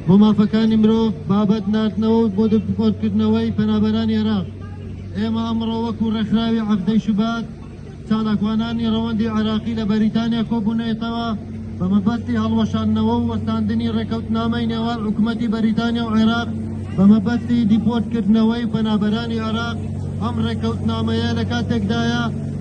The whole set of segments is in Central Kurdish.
بۆ مافەکانی مرۆڤ بابەت ناردنەوە و بۆ دەپۆرکردنەوەی پەنابەرانی عێراق ئێمە ئەمڕۆ وەکو ڕێکخراوی عەفدەی شوبات چالاکوانانی ڕەوەندی عێراقی لە بەریتانیا کۆبوونەتەوە بە مەبەستی هەڵوەشاندنەوە و وەستاندنی ڕێکەوتنامەی نێوان حکوومەتی بەریتانیا و عێراق بە مەبەستی دیپۆرتکردنەوەی پەنابەرانی عێراق ئەم ڕێکەوتنامەیە لە کاتێکدایە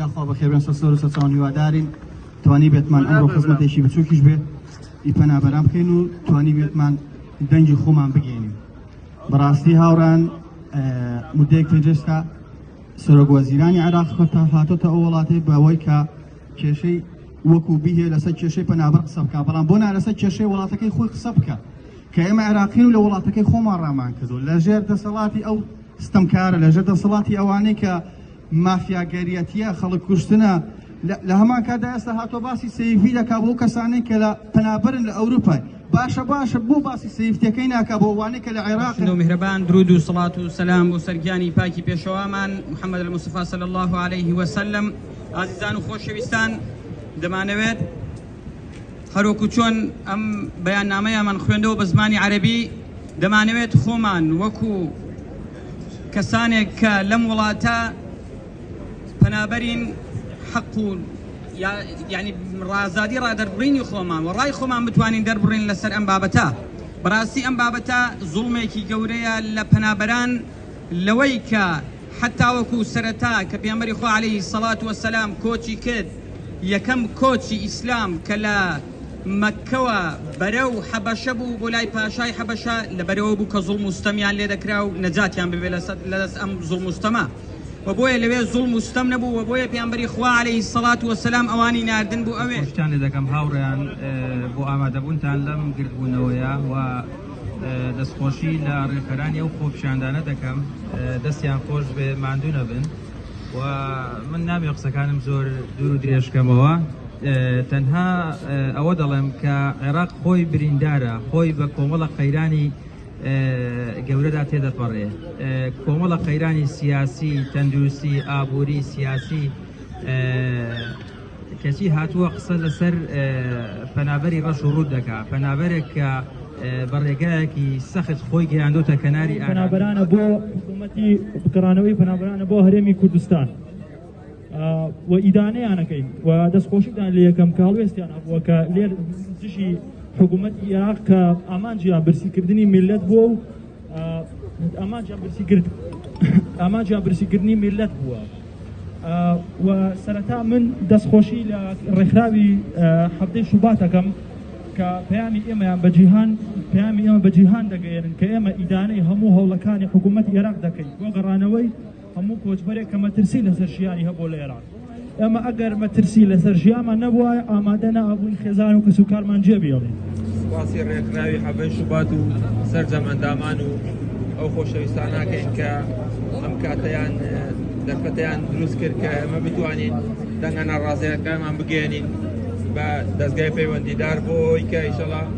یاخوا بەخێربێن سەر سەر و سەرچاوان هیوادارین توانی بێتمان ئەمڕۆ خزمەتێکی بچووکیش بێت ئی پەنابەران بکەین و توانی بێتمان دەنگی خۆمان بگەینین بەڕاستی هاوڕان مدەیەک پێجستا سەرۆک وەزیرانی عراق خۆتا هاتۆتە ئەو وڵاتی بەوەی کە کێشەی وەکو بیهێ لەسەر کێشەی پەنابەر قسە بکە بەڵام بۆ نالەسەر کێشەی وڵاتەکەی خۆی قسە بکە کە ئێمە عراقین و لە وڵاتەکەی خۆمان ڕامان کردو لەژێر دەسەڵاتی ئەو ستەمکارە لەژێر دەسەڵاتی ئەوانەی کە مافیاگەریەتیە خەڵک کوشتنە لە هەمان کاتدا ئێستا هاتۆ باسی سەیفی دەکا بۆ کەسانەی کە لە پەنابەرن لە ئەوروپای باشە باشە بۆ باسی سەیفتەکەی ناکە بۆ وانەی کە لە عێراق و میهرەبان درود و سڵات و سەسلام بۆ سەرگیانی پاکی پێشەوامان محەممەد المسفا سەل الله عليه وسلم ئازیزان و خۆشەویستان دەمانەوێت هەروەکو چۆن ئەم بەیان نامەیە من خوێندەوە بە زمانی عەربی دەمانەوێت خۆمان وەکو کەسانێک کە لەم وڵاتە پەنابەرین حەق و یعنی ڕازادی ڕادەربڕینی خۆمان و ڕای خۆمان بتوانین دەربڕین لەسەر ئەم بابەتە بەڕاستی ئەم بابەتە زوڵمێکی گەورەیە لە پەنابەران لەوەی کە حتاوەکو سەرەتا کە پێمەری خۆ عليهەی سەڵات وەسەسلام کۆچی کرد یەکەم کۆچی ئیسلام کە لە مەککەوە بەرەو حەبەشە بوو بۆ لای پاشای حەبەشە لەبەرەوە بوو کە زوڵم و ستەمیان لێ دەکرا و نەجاتیان ببێ لەدەست ئەم زوڵم و ستەمە و بۆیە لەوێ زوڵم و ستەم نەبوو و بۆیە پێامبەری خوا علیە سەڵات وەسەلام ئەوانی ناردن بۆ ئەوێ. خۆشتان لێ دەکەم هاوڕێیان بۆ ئامادەبوونتان لەم گردبوونەوەیە و دەستخۆشی لە ڕێکخەرانی ئەو خۆپیشاندانە دەکەم دەستیان خۆش بێ ماندوو نەبن. من نابێ قسەکانم زۆر دوور و درێژکەمەوە تەنها ئەوە دەڵێم کە عێراق خۆی بریندارە خۆی بە کۆمەڵە قەیرانی گەورەدا تێدەپەڕێ کۆمەڵە قەیرانی سیاسی تەندروستی ئابووری سیاسی کەچی هاتووە قسە لەسەر پەنابەری ڕەش و ڕووت دەکا، پەنابەرێک کە بە ڕێگایەکی سەخت خۆی گەیاندۆتە کەناری ئارام. پەنابەرانە بۆ حکوومەتی گەڕانەوەی پەنابەرانە بۆ هەرێمی کوردستان و ئیدانەیانەکەین و دەستخۆشیدان لە یەکەم کاڵوێستیان هەبووە کە لێر دژی حکوومەتی عێراق کە ئامانجیان برسیکردنی میللەت بووە و ئامانجیان برسیکردنی میلەت بووە و سەرەتا من دەستخۆشی لە ڕێکخراوی هەفتەی شوباتەکەم کە پەیامی ئێمەیان بە جیهان پەیامی ئێمە بە جیهان دەگەێنن کە ئێمە ئیدانەی هەموو هەوڵەکانی حکوومەت عێراق دەکەین بۆ گەڕانەوەی هەموو کۆچبەرێک کە مەترسی لەسەر ژیانی هەبووە لە ئێراق ئێمە ئەگەر مەترسی لەسەر ژیانمان نەبووایە ئامادە نەئابووین خێزان و کەسوکارمان جێبێڵین سپاسی ڕێکخراوی حەڤەی شوبات و سەرجەم ئەندامان و ئەو خۆشەویستاناکەین کە ئەم کاتەیان دەرفەتیان دروست کرد کە ئەمە بتوانین دەنگە ناڕازەکانمان بگەێنین بە دەستگای پەیوەندیدار بۆ ئەوەی کە ئیشەڵا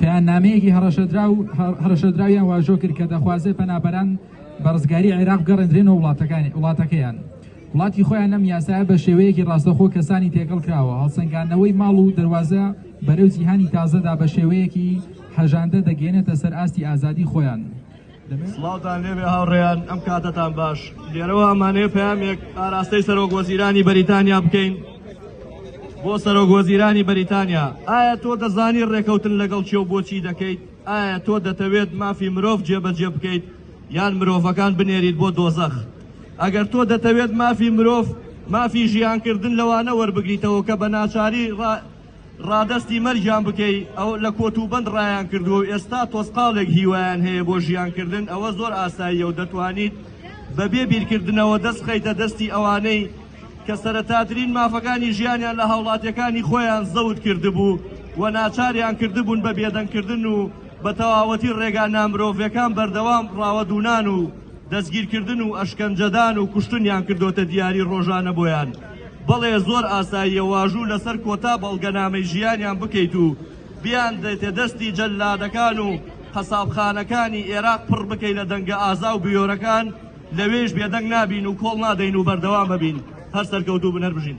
پەیامنامەیەکی هەڕەشەدراو هەڕەشەدراویان واژۆ کرد کە دەخوازێت پەنابەران بە ڕزگاری عێراق بگەڕێندرێنەوە وڵاتەکانی وڵاتەکەیان وڵاتی خۆیان لەم یاسایە بە شێوەیەکی ڕاستەخۆ کەسانی تێکەڵ کراوە هەڵسەنگاندنەوەی ماڵ و دەواازە بەرەو جیهانی تازەدا بە شێوەیەکی هەژاندە دەگەێنێتە سەر ئاستی ئازادی خۆیان سڵاوتان لێبێ هاوڕێیان ئەم کاتەتان باش لێرەوە ئەمانەیە پامێک ئاراستەی سەرۆک وەزیرانی بەریتانیا بکەین بۆ سەرۆک وەزیرانی بەریتانیا ئایا تۆ دەزانی ڕێکەوتن لەگەڵ چێ و بۆچی دەکەیت ئایا تۆ دەتەوێت مافی مرۆڤ جێبەجێ بکەیت یان مرۆڤەکان بنێریت بۆ دۆزەخ ئەگەر تۆ دەتەوێت مافی مرۆڤ مافی ژیانکردن لەوانە وەربگریتەوە کە بە ناچاری ڕادەستی مەرگیان بکەی ئەو لە کۆت و بەند ڕایان کردووە و ئێستا تۆزقاڵێک هیوایان هەیە بۆ ژیان کردن ئەوە زۆر ئاساییە و دەتوانیت بە بێ بیرکردنەوە دەست بخەیتە دەستی ئەوانەی کە سەرەتاترین مافەکانی ژیانیان لە هاوڵاتیەکانی خۆیان زەوت کردبوو و ناچاریان کردبوون بە بێدەنگ کردن و بە تەواوەتی ڕێگا نامرۆڤێکان بەردەوام ڕاوەدوونان و دەستگیرکردن و ئەشکەنجەدان و کوشتنیان کردۆتە دیاری ڕۆژانە بۆیان. بەڵێ زۆر ئاساییە واژوو لەسەر کۆتا بەڵگەنامەی ژیانیان بکەیت و بیاندرێتە دەستی جەللادەکان و قەسابخانەکانی ئێراق پڕ بکەی لە دەنگە ئازا و بوێرەکان لەوێیش بێدەنگ نابین و کۆڵ نادەین و بەردەوام ئەبین هەر سەرکەوتوو بن هەر بژین.